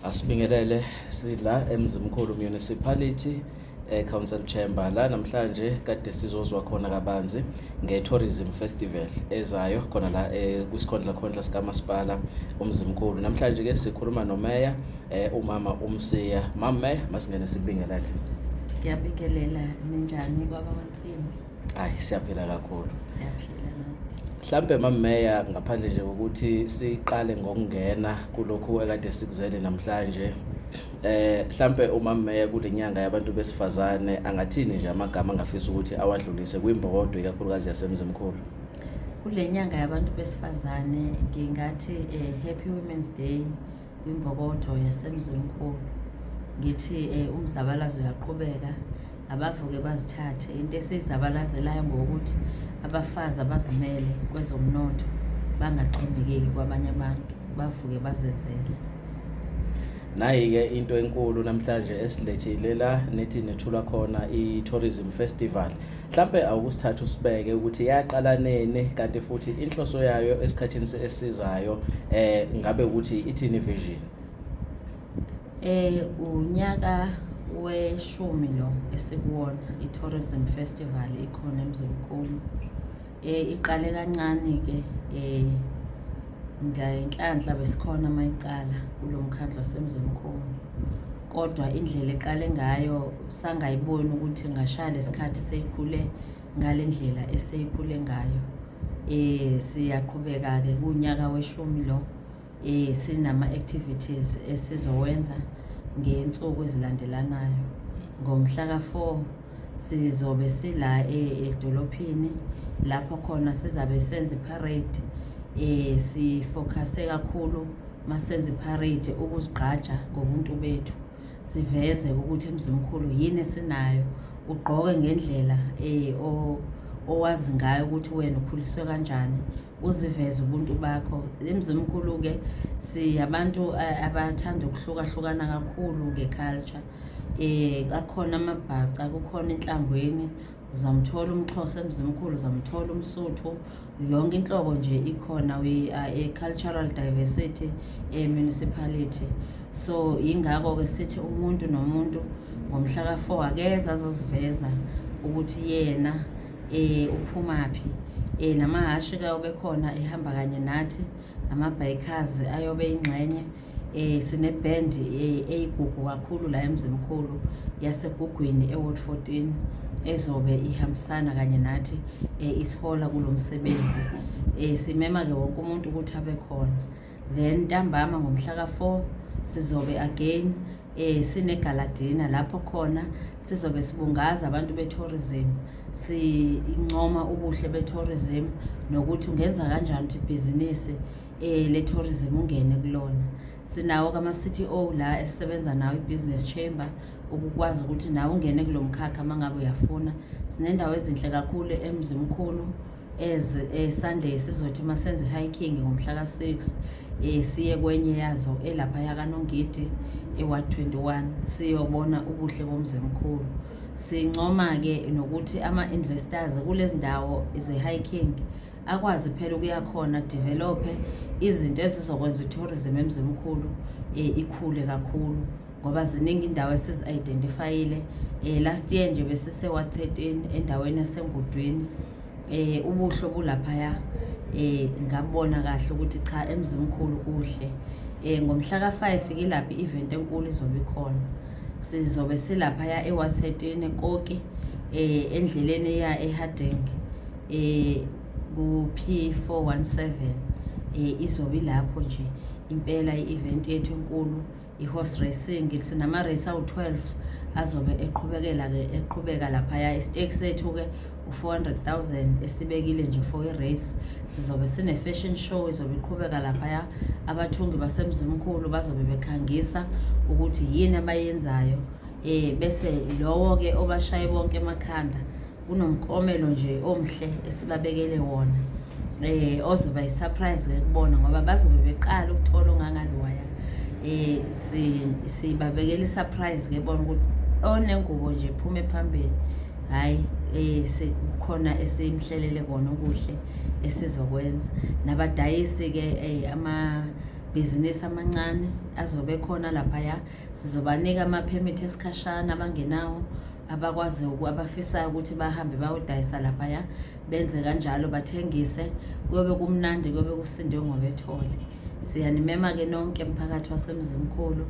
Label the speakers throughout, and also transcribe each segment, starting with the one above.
Speaker 1: Asibingelele sila eMzimkhulu Municipality eh, Council Chamber la namhlanje kade sizozwa khona kabanzi nge-tourism festival ezayo khona la eh, kwisikhondla khondla sikamasipala uMzimkhulu namhlanje ke sikhuluma nomeya eh, umama uMsiya mama meya masingene sikubingelele ngiyabingelela
Speaker 2: ninjani baba wansimbi Hayi siyaphila
Speaker 1: kakhulu. Siyaphila
Speaker 2: nathi. Mhlambe mameya
Speaker 1: ngaphandle nje ukuthi siqale ngokungena kulokhu ekade sikuzele namhlanje. Eh mhlambe umameya kulenyanga yabantu besifazane angathini nje amagama angafisa ukuthi awadlulise kwimbokodo ikakhulukazi yasemzimkhulu. Kulenyanga
Speaker 2: yabantu besifazane ngingathi eh, happy women's day kwimbokotho yasemzimkhulu ngithi um umzabalazo uyaqhubeka abavuke bazithathe into esiyizabalazelayo ngokuthi abafazi abazimele kwezomnotho bangaxhomekeki kwabanye abantu bavuke bazenzele
Speaker 1: nayi-ke into enkulu namhlanje esilethile la nethi nethula khona i-tourism festival Mhlampe awukusithatha usibeke ukuthi yaqala nini kanti futhi inhloso yayo esikhathini esizayo eh ngabe ukuthi ithini vision? Eh
Speaker 2: unyaka weshumi lo esikuwona i-tourism festival ikhona emzimkhulu eh iqale kancane ke eh ngenhlanhla besikhona mayiqala kulomkhandlo wasemzimkhulu kodwa indlela eqale ngayo sangayiboni ukuthi ngashaya lesikhathi seyikhule ngale ndlela eseyikhule ngayo eh siyaqhubeka ke kunyaka weshumi lo eh sinama activities esizowenza ngensuku ezilandelanayo ngomhla ka4 sizobe sila eh, edolophini lapho khona sizabe senza iparade eh sifocuse kakhulu masenza iparade ukuzigqaja ngobuntu bethu siveze ukuthi emzimkhulu yini esinayo ugqoke ngendlela eh owazi ngayo ukuthi wena ukhuliswe kanjani uziveze ubuntu bakho emzimkhulu ke siyabantu eh, abathanda ukuhlukahlukana kakhulu ngeculture Eh kakhona amabhaca kukhona enhlangweni uzamthola umxhosa emzimkhulu uzamthola umsuthu yonke inhlobo nje ikhona we are a cultural diversity a municipality so yingakho ke sithi umuntu nomuntu ngomhla ka-four akeza azoziveza ukuthi yena eh uphumaphi eh namahhashi ke obekhona ehamba kanye nathi amabhayikhazi ayobe ingxenye eh sineband eh, eyigugu kakhulu la emzimkhulu yasegugwini eward 14 ezobe ihambisana kanye nathi eh, isihola kulomsebenzi eh simema ke wonke umuntu ukuthi abe khona then ntambama ngomhla ka4 sizobe again eh sinegaladina lapho khona sizobe sibungaza abantu betourism sincoma ubuhle betourism nokuthi ungenza kanjani ukuthi ibhizinisi eh le tourism ungene kulona sinawo kama city o la esisebenza nawo ibusiness chamber ukukwazi ukuthi nawe ungene kulomkhakha mangabe uyafuna sinendawo ezinhle kakhulu emzimkhulu as eh, Sunday sizothi masenze hiking ngomhla ka 6 eh siye kwenye yazo elapha yakanongidi ewa 21 siyobona ubuhle bomzimkhulu sincoma ke nokuthi ama investors kulezindawo ze hiking akwazi phela ukuya khona develophe izinto ezizokwenza i-tourism emzimkhulu um eh, ikhule kakhulu ngoba ziningi indawo esizi-identifayile um last year nje besisewa 13 endaweni yasengudwini eh ubuhlo bulaphaya eh ngabona kahle ukuthi cha emzimkhulu kuhle eh ngomhla ka5 kilaphi event enkulu izobe ikhona sizobe silapha ya e113 eKoki eh endleleni ya eHarding eh ku-P417 eh izobe ilapho nje impela i-event yethu enkulu i-horse racing sinama-race awu-12 azobe eqhubekela-ke eqhubeka laphaya isiteki sethu-ke u-400000 esibekile nje for i-race sizobe sine-fashion show izobe iqhubeka laphaya abathungi basemzimkhulu bazobe bekhangisa ukuthi yini abayenzayo um bese lowo-ke obashaye bonke emakhanda kunomkomelo nje omhle esibabekele wona eh ozoba isurprise ke kubona ngoba bazobe beqala ukuthola ongangaliwaya eh si sibabekela isurprise ke bona ukuthi onengubo nje phume phambili hayi eh sekukhona esimhlelele kona okuhle esizokwenza nabadayisi ke eh ama bhizinisi amancane azobe khona lapha ya sizobanika amaphemithi esikhashana abangenawo abakwazi abafisayo ukuthi bahambe bayodayisa laphaya benze kanjalo bathengise kuyobe kumnandi kuyobe kusindwe ngobethole siyanimema-ke nonke mphakathi wasemzimkhulu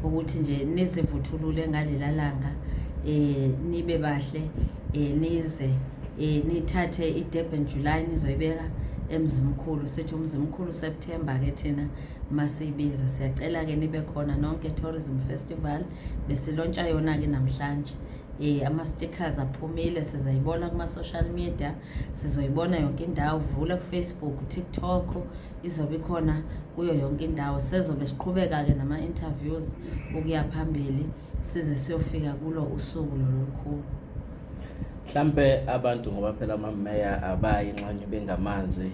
Speaker 2: ukuthi nje nizivuthulule ngalela langa um nibe bahle um nize um nithathe i-durban july nizoyibeka emzimkhulu sithi umzimkhulu september-ke thina masiyibiza siyacela ke nibe khona nonke tourism festival besilontsha yona ke namhlanje eh ama stickers aphumile sizayibona kuma social media sizoyibona yonke indawo vula ku Facebook TikTok izobe khona kuyo yonke indawo sezobe siqhubeka ke nama interviews ukuya phambili size siyofika kulo usuku lolukhulu
Speaker 1: mhlampe abantu ngoba phela amameya abayi nxanye bengamanzi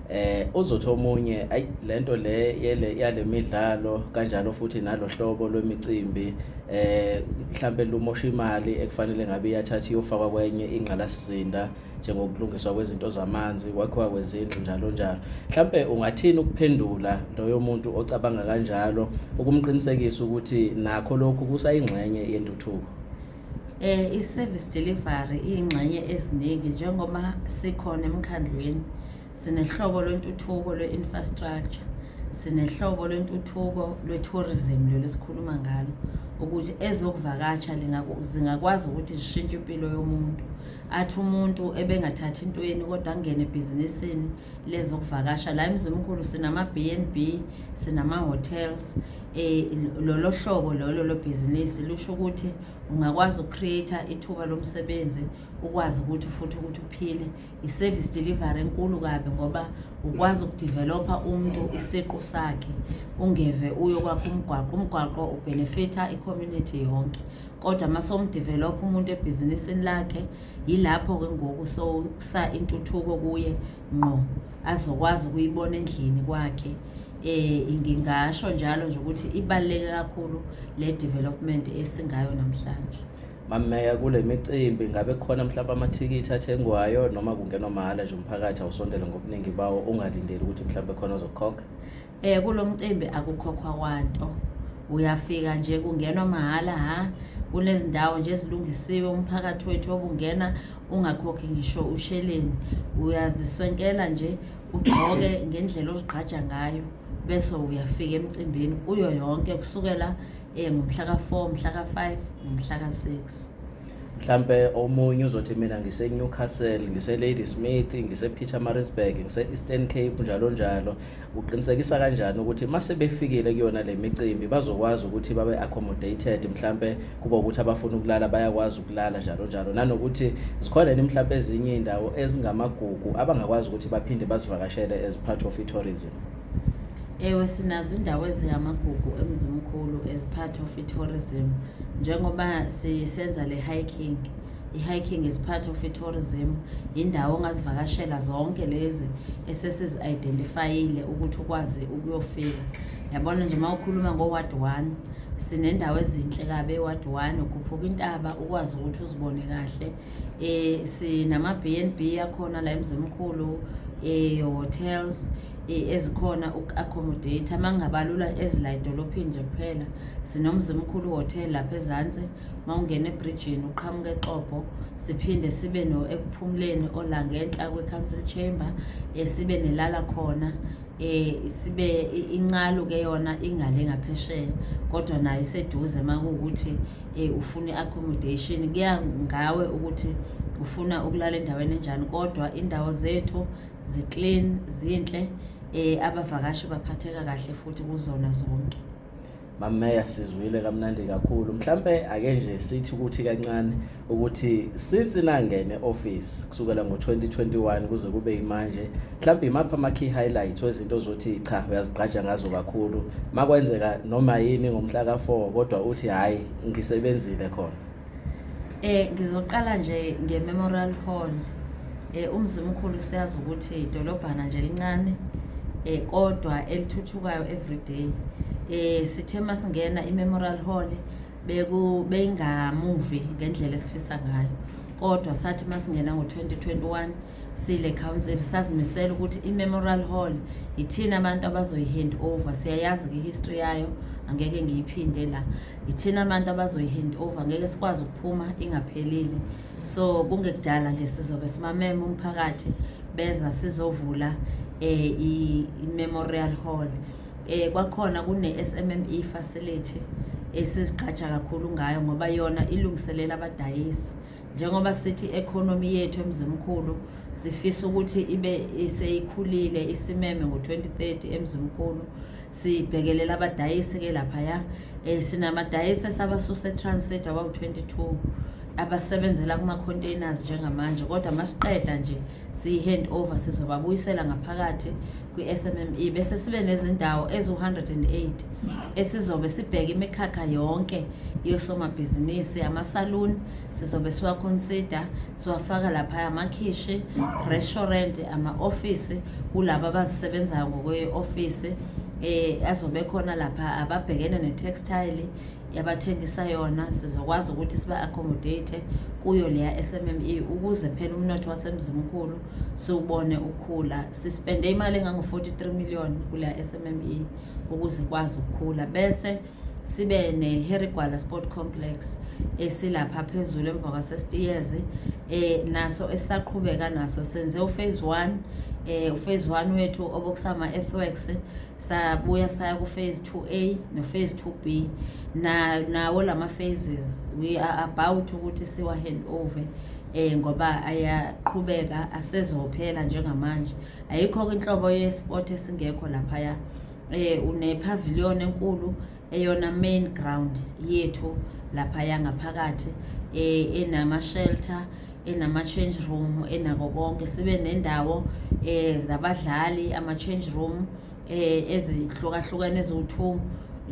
Speaker 1: eh uzothi omunye ayi lento le yele yalemidlalo kanjalo futhi nalohlobo lwemicimbi eh mhlambe lumosha imali ekufanele ngabe iyathatha iyofakwa kwenye ingqalasizinda njengokulungiswa kwezinto zamanzi kwakhiwa kwezindlu njalo njalo mhlampe ungathini ukuphendula loyo muntu ocabanga kanjalo ukumqinisekisa ukuthi nakho lokhu kusayingxenye yentuthuko eh
Speaker 2: i-service delivery iyingxenye eziningi njengoba sikhona emkhandlwini sinehlobo lwentuthuko lwe-infrastructure sinehlobo lwentuthuko lwe-tourism lelo sikhuluma ngalo ukuthi ezokuvakatsha zingakwazi ukuthi zishintshe impilo yomuntu mm. athi umuntu ebengathathi intweni kodwa angene ebhizinisini lezokuvakasha la emzimkhulu sinama-b n b sinama-hotels um lolo hlobo lolo lobhizinisi lusho ukuthi ungakwazi uku-create-a ithuba lomsebenzi ukwazi ukuthi futhi ukuthi uphile i-service delivery enkulu kabi ngoba ukwazi ukudevelopha umuntu isiqu sakhe ungeve uyokwakha umgwaqo umgwaqo ubhenefitha i-community yonke kodwa uma somdevelopha umuntu ebhizinisini lakhe yilapho ke ngoku sowusa intuthuko kuye ngqo azokwazi ukuyibona endlini kwakhe eh ngingasho njalo nje ukuthi ibaluleke kakhulu le development esingayo namhlanje mameya kule
Speaker 1: micimbi ngabe khona mhlawumbe amathikithi athengwayo noma kungenwa mahhala nje umphakathi awusondele ngobuningi bawo ungalindeli ukuthi mhlawumbe khona ozokhokha Eh kulo
Speaker 2: mcimbi akukhokhwa kwanto. Uyafika nje kungenwa mahhala ha. Kunezindawo nje ezilungisiwe umphakathi wethu obungena ungakhokhi ngisho usheleni. Uyaziswenkela nje ugqoke ngendlela ozigqaja ngayo bese uyafika emcimbini kuyo yonke kusukela eh ngomhla ka4, mhla ka5, nomhla ka6. mhlampe
Speaker 1: omunye uzothi mina ngise Newcastle ngise Ladysmith ngise Pietermaritzburg ngise Eastern Cape njalo njalo uqinisekisa kanjani ukuthi uma sebefikile kuyona le micimbi bazokwazi ukuthi babe accommodated mhlampe kuba ukuthi abafuna ukulala bayakwazi ukulala njalo njalo nanokuthi zikhona yini mhlampe ezinye indawo ezingamagugu abangakwazi ukuthi baphinde bazivakashele as part of i-tourism ewe
Speaker 2: sinazo indawo ezingamagugu emzimkhulu as part of i-tourism njengoba sisenza le hiking I-hiking is part of i-tourism, yindawo ongazivakashela zonke lezi esesizi-identifyile ukuthi ukwazi ukuyofika. Yabona nje uma ukhuluma ngo-ward one, sinendawo ezinhle kabi e-ward one, ukhuphuka intaba ukwazi ukuthi uzibone kahle. Um sinama-B and B akhona la emzimkhulu, um eh, hotels ezikhona uku-accommodate uma ngingabalula ezila edolophini nje kuphela sinomzimkhulu hotel lapha ezansi uma ungena ebridgini uqhamuka exobho siphinde sibe no ekuphumuleni olangenhla kwe-council chamber um sibe nelala khona eh sibe incalo ke yona ingale ngaphesheya kodwa nayo iseduze makuwukuthi eh ufuna accommodation kuya ngawe ukuthi ufuna ukulala endaweni enjani kodwa indawo zethu ziclean zinhle eh abavakashi baphatheka kahle futhi kuzona zonke mameya
Speaker 1: sizwile kamnandi kakhulu mhlampe ake nje sithi ukuthi kancane ukuthi since nangene office kusukela ngo-2021 kuze kube imanje mhlampe imaphi ama-key highlights wezinto ozothi cha uyazigqaja ngazo kakhulu makwenzeka noma yini ngomhla ka-4 kodwa uthi hhayi ngisebenzile khona Eh ngizoqala
Speaker 2: nje nge-Memorial Hall. Eh umzimkhulu siyazi ukuthi idolobhana nje elincane eh kodwa elithuthukayo every day. Eh sithe masingena i-Memorial Hall beku bengamuvi ngendlela esifisa ngayo. Kodwa sathi masingena ngo-2021 sile council sazimisela ukuthi i-memorial hall yithina abantu abazoyi-hand over siyayazi ke history yayo angeke ngiyiphinde la yithina abantu abazoyi-hand over ngeke sikwazi ukuphuma ingaphelile so kungekudala nje sizobe simamema umphakathi beza sizovula eh i-memorial hall eh kwakhona kune-SMME facility esiziqhatsha kakhulu ngayo ngoba yona ilungiselela abadayisi njengoba sithi i-economy yethu emzimkhulu sifisa ukuthi ibe seyikhulile isimeme ngo-2030 emzimkhulu sibhekelela abadayisi-ke laphaya um sinamadayisi esabasusa etransit abawu-22 abasebenzela kuma-containers njengamanje kodwa masiqeda nje siyi-hand over sizobabuyisela ngaphakathi kwi-SMME bese sibe nezindawo eziwu-108 esizobe sibheke imikhakha yonke yosomabhizinisi amasaluni sizobe siwaconsider siwafaka lapha amakhishi restaurant ama-ofisi kulabo abazisebenzayo ngokwe-ofisi um azobe khona lapha ababhekene ne-textile yabathengisa yona sizokwazi ukuthi siba-accommodate kuyo leya SMME ukuze phela umnotho wasemzimkhulu siwubone ukhula sispende imali engango-43 million kuleya SMME ukuze ikwazi ukukhula bese sibe ne-herigwala sport complex esilapha phezulu emva kwasestiyezi um eh, naso esisaqhubeka naso senze uphase one um eh, uphase one wethu obokusama-earthworks sabuya saya ku-phase 2a no-phase 2b nawo na lama phases we are about ukuthi siwa hand over eh ngoba ayaqhubeka asezophela njengamanje ayikho inhlobo yesport esingekho laphaya eh une pavilion enkulu eyona main ground yethu lapha yangaphakathi eh, enama shelter enama change room enako konke sibe nendawo eh zabadlali ama change room eh ezihlukahlukene eziwu2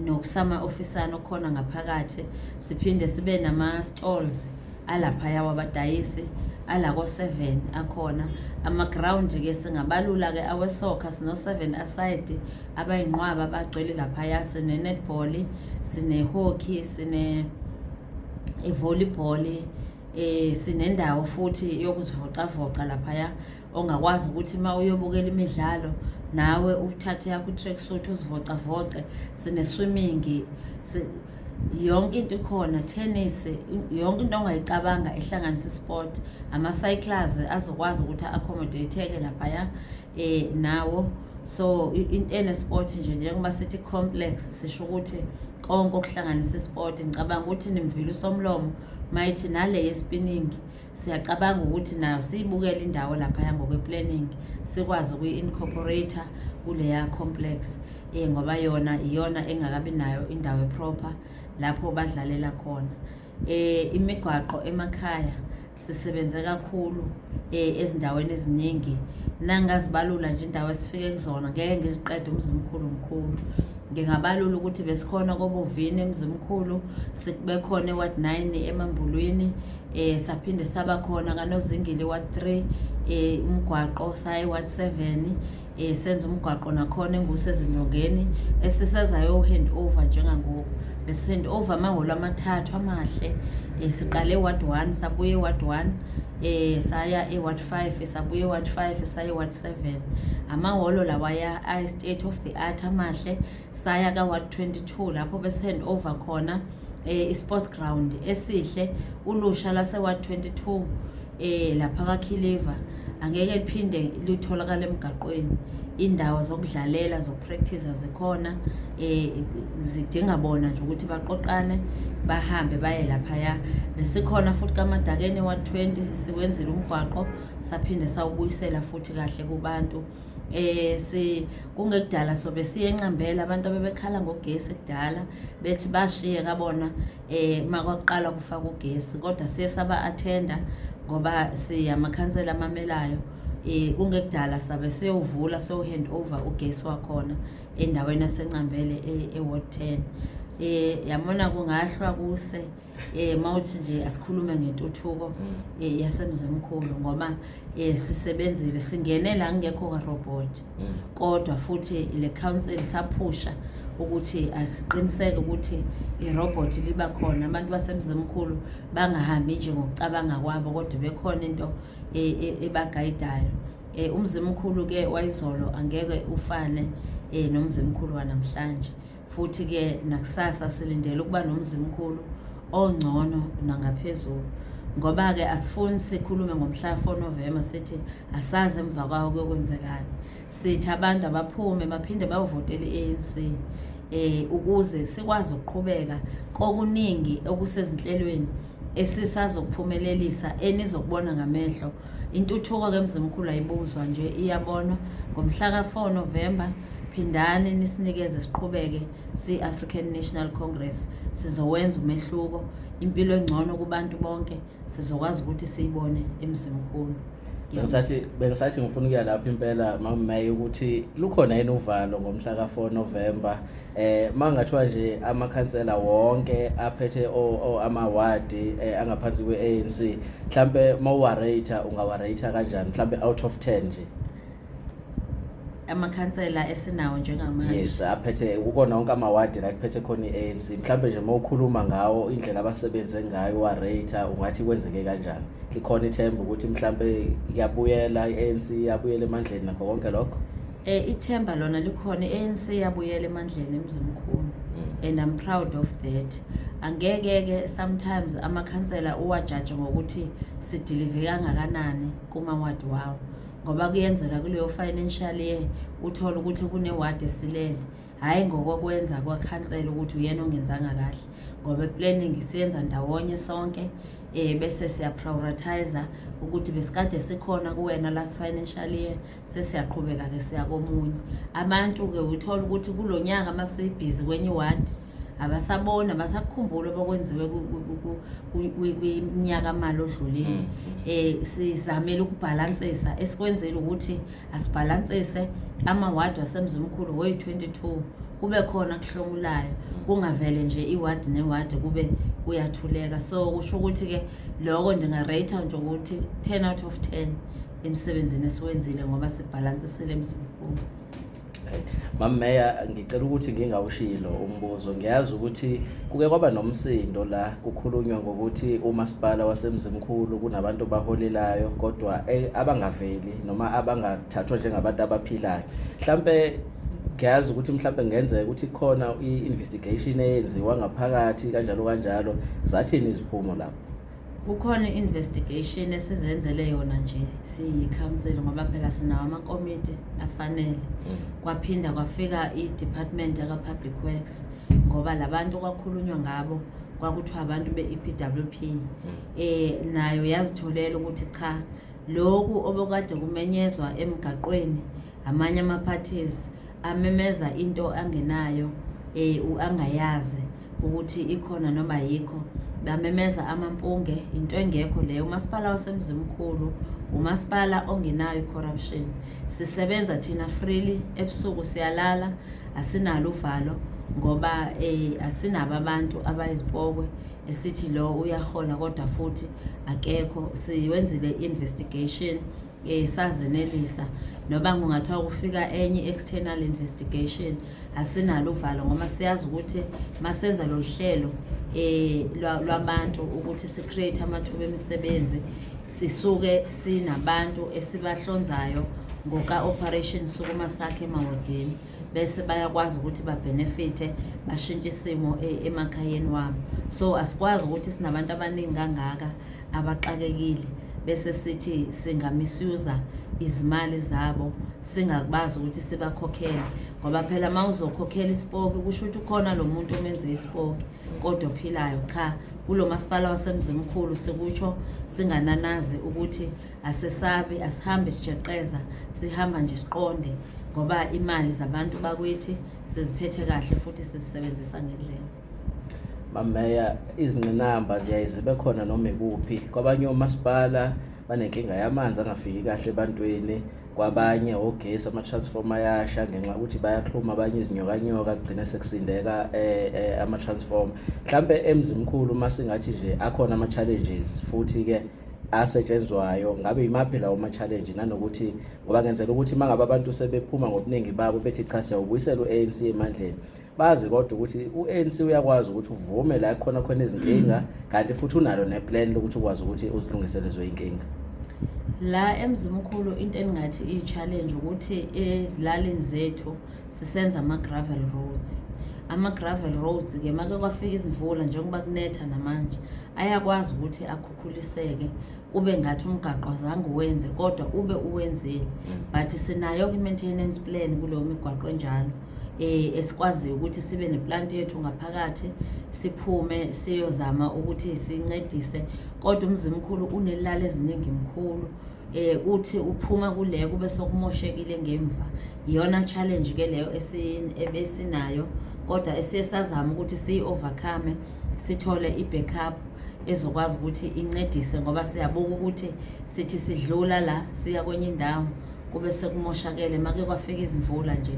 Speaker 2: nokusama ofisana okhona ngaphakathi siphinde sibe nama stalls alaphaya wabadayisi ala ko-seven akhona amagrawundi ke singabalula ke awesoccer sino-seven aside abayinqwaba bagcwele laphaya sine-netball sine-hockey sine-volleyball um sinendawo futhi yokuzivocavoca laphaya ongakwazi ukuthi uma uyobukela imidlalo nawe uthathe yakho i-track suit uzivocavoce sine-swimming yonke into ikhona tennis yonke into ongayicabanga ehlanganisa isport ama-cyclers azokwazi ukuthi a-accommodate-eke laphaya um nawo so into enesport nje njengoba sithi complex sisho ukuthi konke okuhlanganisa isport ngicabanga ukuthi nimvile usomlomo mayithi nale yesipiningi siyacabanga ukuthi nayo siyibukele indawo laphaya ngokwe-planning sikwazi ukuyi-incorporator kuleya complex um ngoba yona iyona engakabi nayo indawo eproper lapho badlalela khona um imigwaqo emakhaya sisebenze kakhulu um ezindaweni eziningi nangazibalula nje indawo esifike kuzona ngeke ngiziqede umzimkhulu mkhulu Ngingabalula ukuthi besikhona kobuvini emzimkhulu, bekhona eward 9 emambulwini, eh saphinde saba khona kanozingile ward 3 eh umgwaqo saye ward 7 eh senza umgwaqo nakhona engusezinyongeni esisezayo hand over njengangoku bese hand over amahholo amathathu amahle eh siqale ward 1 sabuye ward 1 eh saya e ward 5 sabuye ward 5 saye ward 7 amahholo lawaya state of the art amahle saya ka-ward 22 lapho bese-hand over khona um eh, i-sports ground esihle ulusha lase-ward 22 um eh, lapha kakhiliva angeke liphinde lutholakala emgaqweni indawo zokudlalela zokupractice zikhona eh zidinga bona nje ukuthi baqoqane bahambe baye laphaya besikhona futhi kamadakeni wa-20 siwenzile umgwaqo saphinde sawubuyisela futhi kahle kubantu eh si kungekudala sobe siye enqambela abantu abebekhala ngogesi kudala bethi bashiye kabona eh makwaqala kufaka ugesi kodwa siye saba attenda ngoba siyamakhansela amamelayo eh kungekudala sabe siyovula so hand over ugesi wakhona endaweni yasencambele e-ward 10 eh yamona kungahlwa kuse eh mawuthi nje asikhulume ngentuthuko mm. eh yasemzimkhulu ngoba eh sisebenzile singene la ngekho ka robot mm. kodwa futhi le council saphusha ukuthi asiqiniseke ukuthi irobot liba khona abantu basemzimkhulu bangahambi nje ngokucabanga kwabo kodwa bekhona into e, e, ebagayidayo eh umzimkhulu ke wayizolo angeke ufane eh nomzimkhulu wanamhlanje futhi ke nakusasa silindele ukuba nomzimkhulu ongcono nangaphezulu ngoba ke asifuni sikhulume ngomhla 4 November sithi asazi emva kwawo kuyokwenzekani sithi abantu abaphume baphinde bayovotela i-ANC eh ukuze sikwazi ukuqhubeka kokuningi okusezinhlelweni esisazokuphumelelisa enizokubona ngamehlo intuthuko ke mzimkhulu ayibuzwa nje iyabonwa ngomhlaka 4 November phindani nisinikeze siqhubeke si-African National Congress sizowenza umehluko impilo engcono kubantu bonke sizokwazi ukuthi siyibone emzimkhulu bengisathi
Speaker 1: bengisathi ngifuna ukuya lapho impela makumeya ukuthi lukhona yini uvalo ngomhla ka-4 November eh mangathiwa nje amakhansela wonke aphethe ama ward eh, angaphansi kweANC mhlambe mawuwarate ungawarate kanjani mhlambe out of 10 nje
Speaker 2: amakhansela esinawo njengamanje yes aphethe
Speaker 1: ukona wonke amawadi la kuphethe khona iANC mhlambe nje mawukhuluma ngawo indlela abasebenze ngayo wa rate ungathi kwenzeke kanjani likhona ithemba ukuthi mhlambe iyabuyela iANC iyabuyela emandleni nakho konke lokho Eh ithemba
Speaker 2: lona likhona ANC yabuyela emandleni emzimkhulu mm. and I'm proud of that. Angeke ke sometimes amakhansela uwajaje ngokuthi sidilive kangakanani kuma ward wawo ngoba kuyenzeka kuleyo financial year uthola ukuthi kune ward esilele hhayi ngokokwenza kwakhansela ukuthi uyena ongenzanga kahle ngoba eplanning siyenza ndawonye sonke um bese siyaprioritizer ukuthi besikade sikhona kuwena last financial year sesiyaqhubeka ke siya komunye abantu ke uthola ukuthi kulo nyaka uma sibhizi kwenye iwadi abasaboni abasakukhumbuli abakwenziwe kunyaka mali odlulile um mm. eh, sizamele ukubhalansisa esikwenzile ukuthi asibhalansise amawadi wasemzimkhulu woyi-twenty-two kube khona kuhlomulayo mm. kungavele nje iwadi newadi kube kuyathuleka so kusho ukuthi-ke loko ndingarate nje ukuthi ten out of ten emsebenzini esiwenzile ngoba sibhalansisile emzimkhulu
Speaker 1: Mama Meya ngicela ukuthi ngingawushilo umbuzo ngiyazi ukuthi kuke kwaba nomsindo la kukhulunywa ngokuthi umasipala wasemzimkhulu kunabantu baholelayo kodwa eh, abangaveli noma abangathathwa njengabantu abaphilayo mhlambe ngiyazi ukuthi mhlawumbe kungenzeka ukuthi khona i-investigation eyenziwa ngaphakathi kanjalo kanjalo zathini iziphumo lapho Kukhona
Speaker 2: i-investigation esizenzele yona nje siyi-council ngoba phela sinawo amakomiti afanele. Mm. Kwaphinda kwafika i-department yaka-public works ngoba labantu kwakhulunywa ngabo kwakuthiwa abantu be-EPWP mm. eh nayo yazitholela ukuthi cha lokhu obokade kumenyezwa emgaqweni amanye ama-parties amemeza into angenayo eh angayazi ukuthi ikhona noma yikho bamemeza amampunge into engekho leyo umasipala wasemzimkhulu umasipala ongenayo i-corruption sisebenza thina freely ebusuku siyalala asinalo uvalo ngoba eh, asinabo abantu abayizipokwe esithi lo uyahola kodwa futhi akekho siwenzile i-investigation eh sazenelisa noba kungathiwa kufika enye external investigation asinalo uvalo ngoba siyazi ukuthi masenza lo hlelo eh lwabantu ukuthi si create amathuba emisebenzi sisuke sinabantu esibahlonzayo ngoka operation sukuma sakhe emawodini bese bayakwazi ukuthi babenefithe bashintshe isimo eh, emakhayeni wabo so asikwazi ukuthi sinabantu abaningi kangaka abaxakekile bese sithi singamisuza izimali zabo singakubazi ukuthi sibakhokhele ngoba phela uma uzokhokhela isipoki kusho ukuthi ukhona lo muntu omenze isipoki kodwa ophilayo cha kulo masipala wasemzimkhulu sikutsho singananazi ukuthi asesabi asihambe sijeqeza sihamba nje siqonde ngoba imali zabantu bakwethi siziphethe kahle futhi sizisebenzisa ngendlela mameya
Speaker 1: izingqinamba ziyaye zibe khona noma ikuphi kwabanye omasipala banenkinga yamanzi angafiki kahle ebantwini kwabanye ogesi ama-transformer ayasha ngenxa yokuthi bayaxhuma abanye izinyokanyoka kugcine sekusindeka eh, eh, ama-transformer mhlawumbe emzimkhulu uma singathi nje akhona ama-challenges futhi-ke asetshenzwayo ngabe yimaphi lawo ma-challenge nanokuthi ngoba ngenzela ukuthi uma ngabe abantu sebephuma ngobuningi babo bethi cha siyawubuyisela u-anc emandleni bazi kodwa ukuthi u-ANC uyakwazi ukuthi uvume la khona khona izinkinga kanti futhi unalo neplan lokuthi ukwazi ukuthi uzilungiselezwe inkinga la
Speaker 2: emzimkhulu into engingathi iyi-challenge ukuthi ezilalini zethu sisenza ama-gravel roads ama-gravel roads-ke make kwafika izimvula njengoba kunetha namanje ayakwazi ukuthi akhukhuliseke kube ngathi umgaqo azange uwenze kodwa ube uwenzile mm. but sinayo-ke i-maintenance plan kuleyo migwaqo enjalo eh esikwaziyo ukuthi sibe neplant yethu ngaphakathi siphume siyozama ukuthi sincedise kodwa umzi mkhulu unelala eziningi mkhulu eh uthi uphuma kule kube sokumoshekile ngemva iyona challenge ke leyo esinayo kodwa esiye sazama ukuthi siyi overcome sithole i-backup ezokwazi ukuthi incedise ngoba siyabuka ukuthi sithi sidlula la siya kwenye indawo kube sekumoshakele make kwafika izimvula nje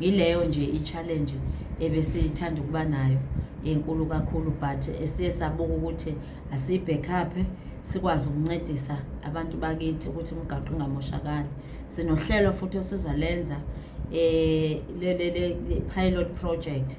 Speaker 2: yileyo nje i-challenge ebesithanda ukuba nayo enkulu kakhulu but esiye sabuka ukuthi asiyibhekhaphe sikwazi ukuncedisa abantu bakithi ukuthi umgaqo ungamoshakali sinohlelo futhi osizalenza um eh, le pilot project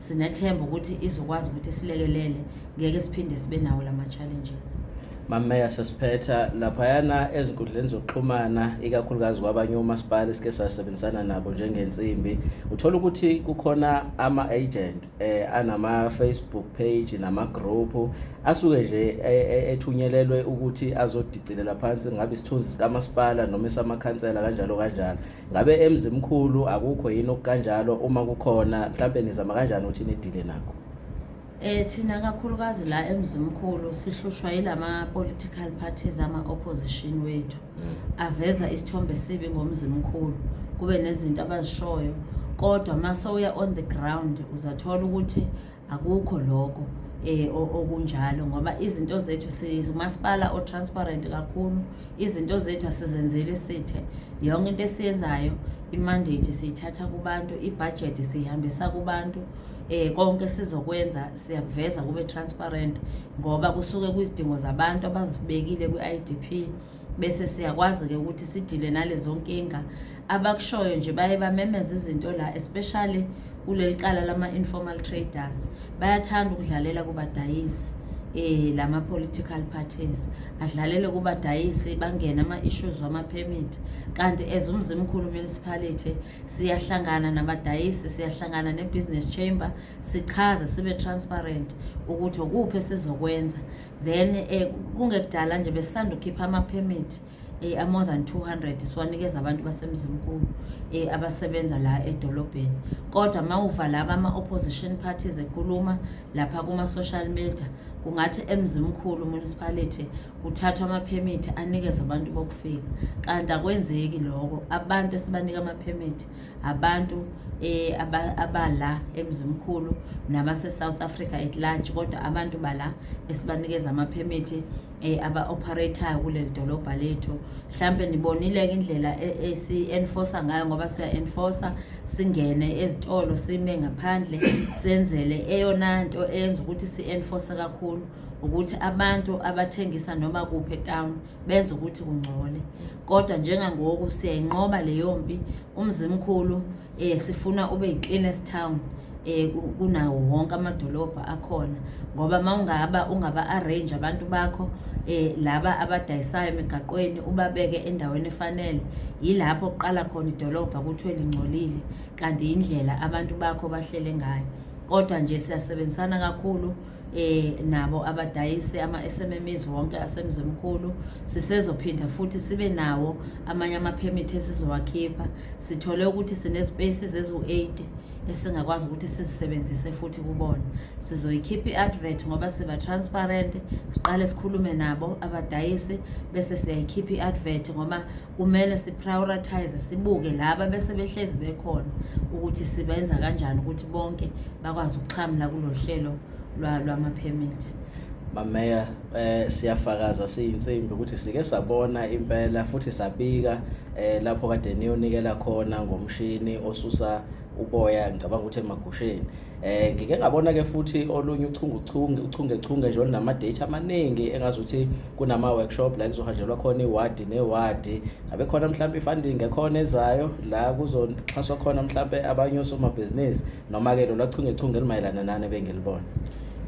Speaker 2: Sinethemba ukuthi izokwazi ukuthi silekelele ngeke siphinde sibe nawo la ma-challenges. Mameya
Speaker 1: sesiphetha laphayana ezinkundleni zokuxhumana ikakhulukazi kwabanye omasipala esike sasebenzisana nabo njengensimbi uthola ukuthi kukhona ama-agent eh, anama-facebook page nama-group asuke nje eh, eh, ethunyelelwe ukuthi azodicilela phansi ngabe isithunzi sikamasipala noma esamakhansela kanjalo kanjalo ngabe emzimkhulu akukho yini okukanjalo uma kukhona mhlampe nizama kanjani ukuthi nidile nakho Eh thina
Speaker 2: kakhulukazi la emzimkhulu sihlushwa yilama political parties ama opposition wethu aveza isithombe sibi ngomzimkhulu kube nezinto abazishoyo kodwa mase uya on the ground uzathola ukuthi akukho lokho eh okunjalo ngoba izinto zethu sizumasipala o transparent kakhulu izinto zethu asizenzeli sithe yonke into esiyenzayo imandate siyithatha kubantu ibudget siyihambisa kubantu eh konke sizokwenza siyakuveza kube transparent ngoba kusuke kwizidingo zabantu abazibekile kwi-IDP bese siyakwazi-ke ukuthi sidile nalezo nkinga abakushoyo nje baye bamemeza izinto la especially kuleli cala lama-informal traders bayathanda ukudlalela kubadayisi eh lama political parties adlalele kuba dayisi bangena ama issues wama permit kanti as umzimkhulu municipality siyahlangana nabadayisi siyahlangana ne business chamber sichaze sibe transparent ukuthi ukuphi sizokwenza then eh, kungekudala nje besisanda ukhipha amaphemithi eh, a-more than 200 siwanikeza abantu basemzimkulu eh, abasebenza la edolobheni kodwa uma uva laba ama-opposition parties ekhuluma lapha kuma-social media kungathi emzimkhulu municipality kuthathwa amaphemithi anikezwe abantu bokufika kanti akwenzeki lokho abantu esibanika amaphemithi abantu eh, abala emzimkhulu nabase-south africa at large kodwa abantu bala esibanikeza amaphemithi um eh, aba-operatayo kuleli dolobha lethu mhlawumpe nibonile-ke indlela e-, esi-enforce ngayo ngoba siya-enforce singene ezitolo sime ngaphandle senzele eyona nto eyenza ukuthi si-enforce kakhulu ukuthi abantu abathengisa noma kuphi etown benza ukuthi kungcole kodwa njengangoku siyayinqoba leyo mpi umzimkhulu um sifuna ube yi-cleanest town um kunawo wonke amadolobha akhona ngoba uma ungaba ungaba-arrange abantu bakho eh laba abadayisayo emigaqweni ubabeke endaweni efanele yilapho kuqala khona idolobha kuthiwe lingcolile kanti indlela abantu bakho bahlele ngayo kodwa nje siyasebenzisana kakhulu eh nabo abadayise ama-SMMEs wonke asemzimkhulu sisezophinda futhi sibe nawo amanye ama-permit esizowakhipha sithole ukuthi sinezipaces eziwu-80 esingakwazi ukuthi sizisebenzise futhi kubona sizoyikhipha i-advert ngoba siba transparent siqale sikhulume nabo abadayisi bese siyayikhipha i-advert ngoba kumele siprioritize sibuke laba bese behlezi bekhona ukuthi sibenza kanjani ukuthi bonke bakwazi ukuxhamla kulolu hlelo lwama-permit
Speaker 1: mameya eh siyafakaza siyinsimbi ukuthi sike sabona impela futhi sabika eh lapho kade niyonikela khona ngomshini osusa uboya ngicabanga ukuthi emagusheni Eh ngike ngabona ke futhi olunye uchungechunge uchungechunge nje olunama date amaningi engazi ukuthi kunama workshop la kuzohanjelwa khona iward neward ngabe khona mhlawumbe ifunding ekhona ezayo la kuzoxhaswa khona mhlawumbe abanye osomabhizinisi noma ke lo lachungechunge limayelana nani bengilibona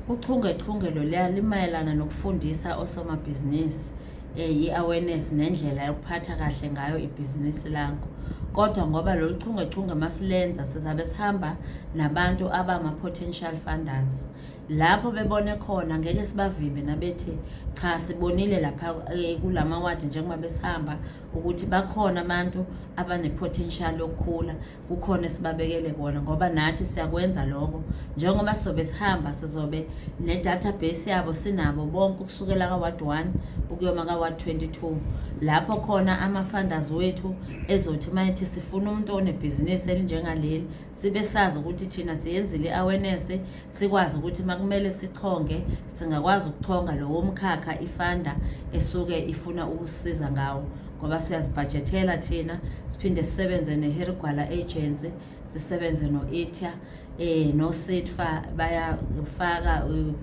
Speaker 1: uchungechunge
Speaker 2: loluya limayelana nokufundisa osomabhizinisi eh, yi-awareness nendlela yokuphatha kahle ngayo ibhizinisi lakho kodwa ngoba lolu chungechunge masilenza sizabe sihamba nabantu abama-potential funders lapho bebone khona ngeke sibavimbe nabethi cha sibonile lapha eh, kula mawadi njengoba besihamba ukuthi bakhona abantu abane-potential yokukhula kukhona esibabekele kona ngoba nathi siyakwenza lokho njengoba sizobe sihamba sizobe ne-database yabo sinabo bonke ukusukela ka-ward one ukuyoma ka-ward twenty-two lapho khona ama-funders wethu ezothi uma ethi sifuna umuntu onebhizinisi elinjengaleli sibe sazi ukuthi thina siyenzile i-awareness sikwazi ukuthi uma kumele sichonge singakwazi ukuchonga lowo mkhakha ifanda esuke ifuna ukusiza ngawo ngoba siyazibhajethela thina siphinde sisebenze neherigwala agency sisebenze no-itya um eh, nositfa bayafaka eh,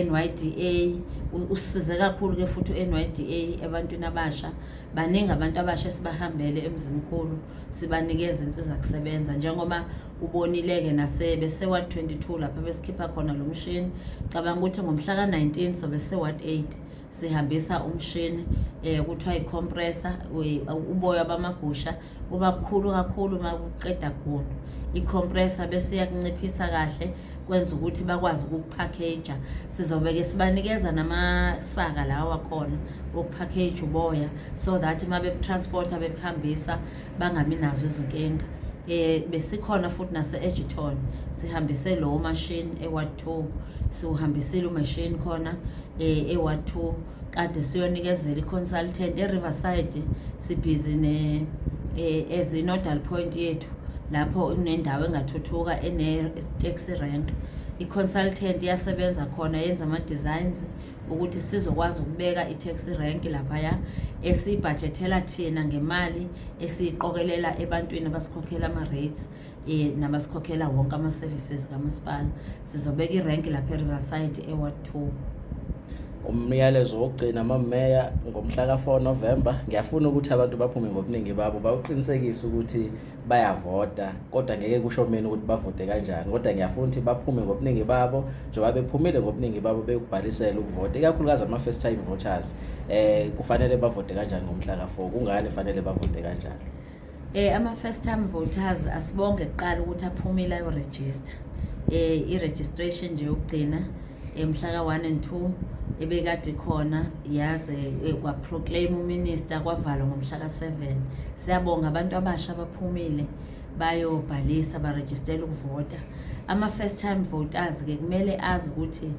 Speaker 2: NYDA usize kakhulu ke futhi uNYDA ebantwini abasha baningi abantu abasha esibahambele emzimkhulu sibanikeza insiza kusebenza njengoba ubonile-ke nasebeseward 22 lapho besikhipha khona lo mshini cabanga ukuthi ngomhla ka-19 sobe seward 8 sihambisa umshini eh kuthiwa i-compressor uboya bamagusha kuba kukhulu kakhulu uma kuqeda gundu i-compressor bese iyakunciphisa kahle kwenza ukuthi bakwazi ukukuphakeja sizobe-ke sibanikeza namasaka lawa khona okuphakeja uboya so that uma bebutransporta bebuhambisa bangabi nazo izinkinga eh besikhona futhi nase Edgerton sihambise lo machine eWard 2 siwuhambisile umachine khona eh eWard 2 kade siyonikezela iconsultant eRiverside sibhizi ne eh, as inodal point yethu lapho kunendawo engathuthuka ene taxi rank iconsultant iyasebenza khona yenza ama designs ukuthi sizokwazi ukubeka i-taxi rank laphaya esiyibhajethela thina ngemali esiyiqokelela ebantwini abasikhokhela ama-rates um nabasikhokhela wonke ama-services kamasipala sizobeka irank lapha eriverside eward two
Speaker 1: umyalezo wokugcina amameya ngomhla ka-4 novemba ngiyafuna ukuthi abantu baphume ngobuningi babo bawuqinisekise ukuthi bayavota kodwa ngeke kusho mina ukuthi bavote kanjani kodwa ngiyafuna ukuthi baphume ngobuningi babo njengoba bephumile ngobuningi babo beyokubhalisela ukuvota ikakhulukazi ama-first time voters um kufanele bavote kanjani ngomhla ka-four kungani kufanele bavote kanjalo um ama-first time
Speaker 2: voters asibonge kuqala ukuthi aphumile ayorejista um i-registration nje yokugcina mhla ka-1 and 2 ebekade khona yaze eh, kwaproclaim uminister kwavalwa ngomhla ka-7 siyabonga abantu abasha abaphumile bayobhalisa barejistela ukuvota ama-first time voters-ke kumele azi ukuthi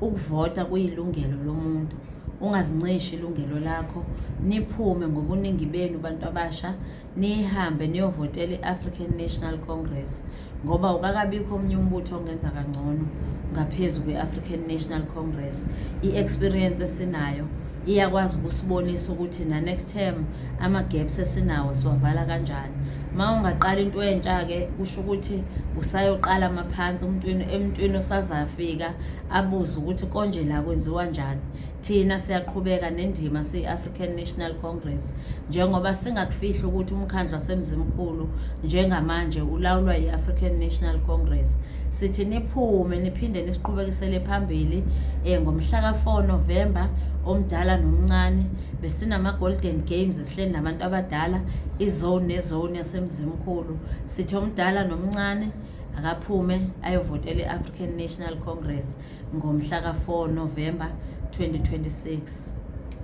Speaker 2: ukuvota kuyilungelo lomuntu ungazincishi ilungelo lakho niphume ngobuningi benu bantu abasha nihambe niyovotela i-african national congress ngoba ukakabikho omunye umbutho ongenza kangcono ngaphezu kwe-african national congress i-experience esinayo iyakwazi ukusibonisa ukuthi na-next term ama-gaps esinawo siwavala kanjani ma ungaqala into entsha-ke kusho ukuthi usayoqala amaphansi emntwini osazafika abuze ukuthi konje la kwenziwa njani Thina siyaqhubeka nendima siyi-African National Congress njengoba singakufihli ukuthi umkhandlu waseMzimkhulu njengamanje ulawulwa yi-African National Congress. Sithi niphume niphinde nisiqhubekisele phambili um ngomhlaka 4 November omdala nomncane besinama-golden games sihleli nabantu abadala izone nezone yasemzimkhulu sithi omdala nomncane akaphume ayovotela i-African National Congress. ngomhla ka-4 Novemba 2026.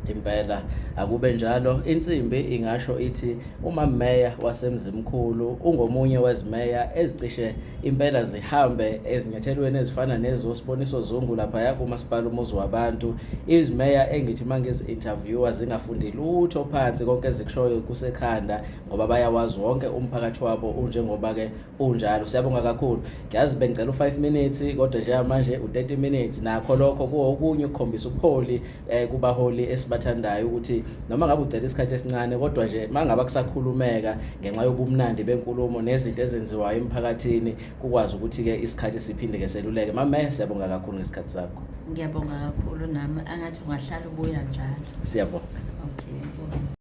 Speaker 1: impela akube njalo insimbi ingasho ithi umameya wasemzimkhulu ungomunye wezimeya ezicishe impela zihambe ezinyathelweni ezifana nezosiboniso zungu laphaya kumasipala umuzi wabantu izimeya engithi uma ngizi-interviewa zingafundi lutho phansi konke ezikushoyo kusekhanda ngoba bayawazi wonke umphakathi wabo unjengoba-ke unjalo siyabonga kakhulu ngiyazi bengicela u-5 minutes kodwa njengamanje u-30 minutes nakho lokho kuwokunye ukukhombisa ubuholi eh, kubaholi esibathandayo ukuthi noma ngabe ucela isikhathi esincane kodwa nje uma ngaba kusakhulumeka ngenxa yobumnandi benkulumo nezinto ezenziwayo emphakathini kukwazi ukuthi-ke isikhathi siphinde-ke seluleke mame siyabonga kakhulu ngesikhathi sakho
Speaker 2: ngiyabonga kakhulu
Speaker 1: nami
Speaker 2: angathi
Speaker 1: ungahlala
Speaker 2: ubuya njalo
Speaker 1: siyabonga
Speaker 2: okay